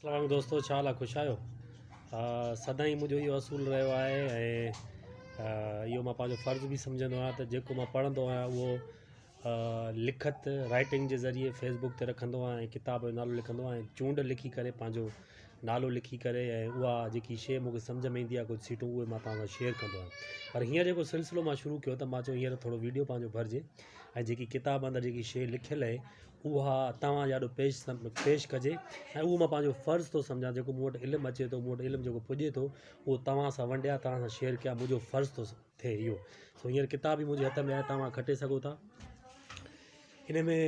اسلام عليڪم دوستو ڇا حال آ خوش آھيو سدائين منھنجو اھو اصول رھيو آھي ۽ اھو مان پنھنجو فرض به سمجھندو آھيان ته جيڪو مان پڙھندو آھيان اھو لکت رائٽنگ جي ذريعي فيسبوڪ تي رکندو آھيان ڪتاب جو نالو لکندو آھيان ۽ چونڊ لکي ڪري پنھنجو نالو لکي ڪري ۽ اھا جيڪي شيء مونکي سمجھ ۾ ايندي آھي ڪجھ سيٽون اھي مان توھان سان شيئر ڪندو آھيان پر ھينئر جيڪو سلسلو مان شروع ڪيو ته مان چيو ھينئر ٿورو ويڊيو پنھنجو ڀرجي ۽ جيڪي ڪتاب اندر جيڪي شيء لکيل اھي اها توهان جي آڏو پيش پيش ڪجي ۽ اهو مان پنهنجو فرض ٿو سمجهان جيڪو مون وٽ علم اچي ٿو مون وٽ علم جيڪو پڄي ٿو اهو توهان سان ونڊيان توهان سان شيئر ڪيان منهنجو فرض ٿو ٿئي اهو سو هينئر ڪتاب بي منهنجي هٿ ۾ آهي توهان کٽي سگهو ٿا ان ۾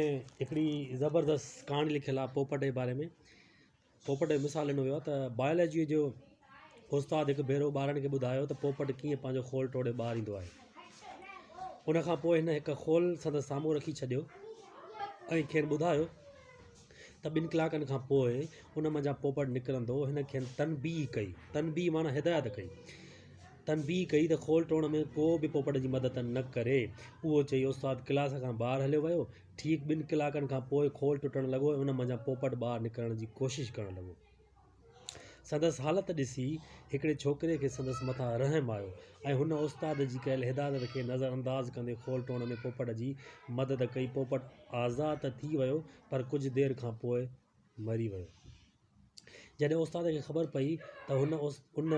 هڪڙي زبردست ڪهاڻي لکيل آهي پوپٽ جي باري ۾ پوپٽ جو مثال ڏنو ويو آهي ته بائيولاجيء جو استاد هڪ ڀيرو ٻارڙن کي ٻڌايو ته پوپٽ ڪيئن پنهنجو خول ٽوڙي ٻاهر ايندو آهي. ان کان پوء هن هڪ خول سندس سامهون رکي ڇڏيو ۽ کين ٻڌايو ته ٻن ڪلاڪن کان پوء ان منجهان پوپٽ نڪرندو. هن کين تنبيهه ڪئي، تنبيهه معنيٰ هدايت ڪئي، تنبيهه ڪئي ته خول ٽوڙڻ ۾ ڪو به پوپٽ جي مدد نه ڪري. اهو چئي استاد ڪلاس کان ٻاهر هليو ويو. ٺيڪ ٻن ڪلاڪن کان پوء کول ٽٽڻ لڳو ۽ ان منجهان پوپٽ ٻاهر نڪرڻ جي ڪوشش ڪرڻ لڳو. سندس حالت ڏسي هڪڙي ڇوڪري کي سندس مٿان رحم آيو ۽ هن استاد جي ڪيل هدايتن کي نظر انداز ڪندي کول ٽوڙڻ ۾ پوپٽ جي مدد ڪئي. پوپٽ آزاد ته ٿي ويو پر ڪجهه دير کان پوء مري ويو. جڏهن استاد کي خبر پئي ته هن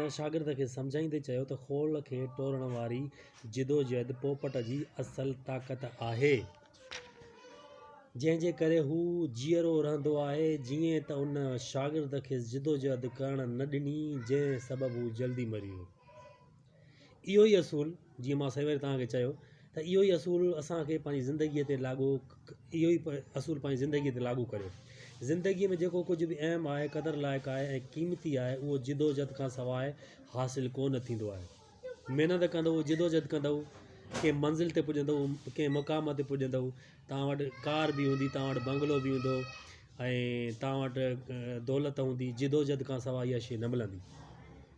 ان شاگرد کي سمجهائيندي چيو ته خول کي ٽوڙڻ واري جدوجهد پوپٽ جي اصل طاقت آهي، جنهن جي ڪري هو جيئرو رهندو آهي، جيئن ته ان شاگرد کيس جدوجهد ڪرڻ نه ڏني، جنهن سبب هو جلدي مري ويو. اهو ئي اصول جيئن مان سوير توهان کي چيو ته اهو ئي اصول اسان کي پنهنجي زندگيء تي لاڳو اهو ئي اصول پنهنجي زندگيء تي لاڳو ڪريو زندگيء ۾ جيڪو ڪجهه به اهم آهي قدر لائق آهي ۽ قيمتي آهي اهو جدوجھد کان سواء حاصل ڪو نه ٿيندو آهي محنت ڪندو جدوجھد ڪندو ڪنهن منزل تي پڄندو ڪنهن مقام تي پڄندو توهان وٽ ڪار به هوندي توهان وٽ بنگلو به هوندو ۽ توهان وٽ دولت هوندي جدوجھد کان سواء اها شيء نه ملندي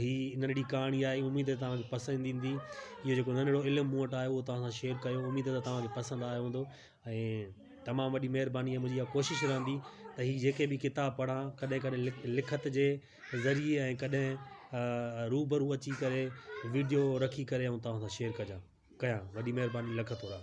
هي ننڍڙي ڪهاڻي آهي اميد آهي توهان کي پسند ايندي اهو جيڪو ننڍڙو علم مون وٽ آهي اهو توهان سان شيئر ڪيو اميد آهي توهان کي پسند آيو هوندو ۽ تمام وڏي مهرباني منهنجي اها ڪوشش رهندي ته هي جيڪي به ڪتاب پڙها ڪڏهن ڪڏهن لک لکت جي ذريعي ۽ ڪڏهن روبرو اچي ڪري وڊيو رکي ڪري ۽ توهان سان شيئر ڪجان ڪيان وڏي مهرباني لک ٿورا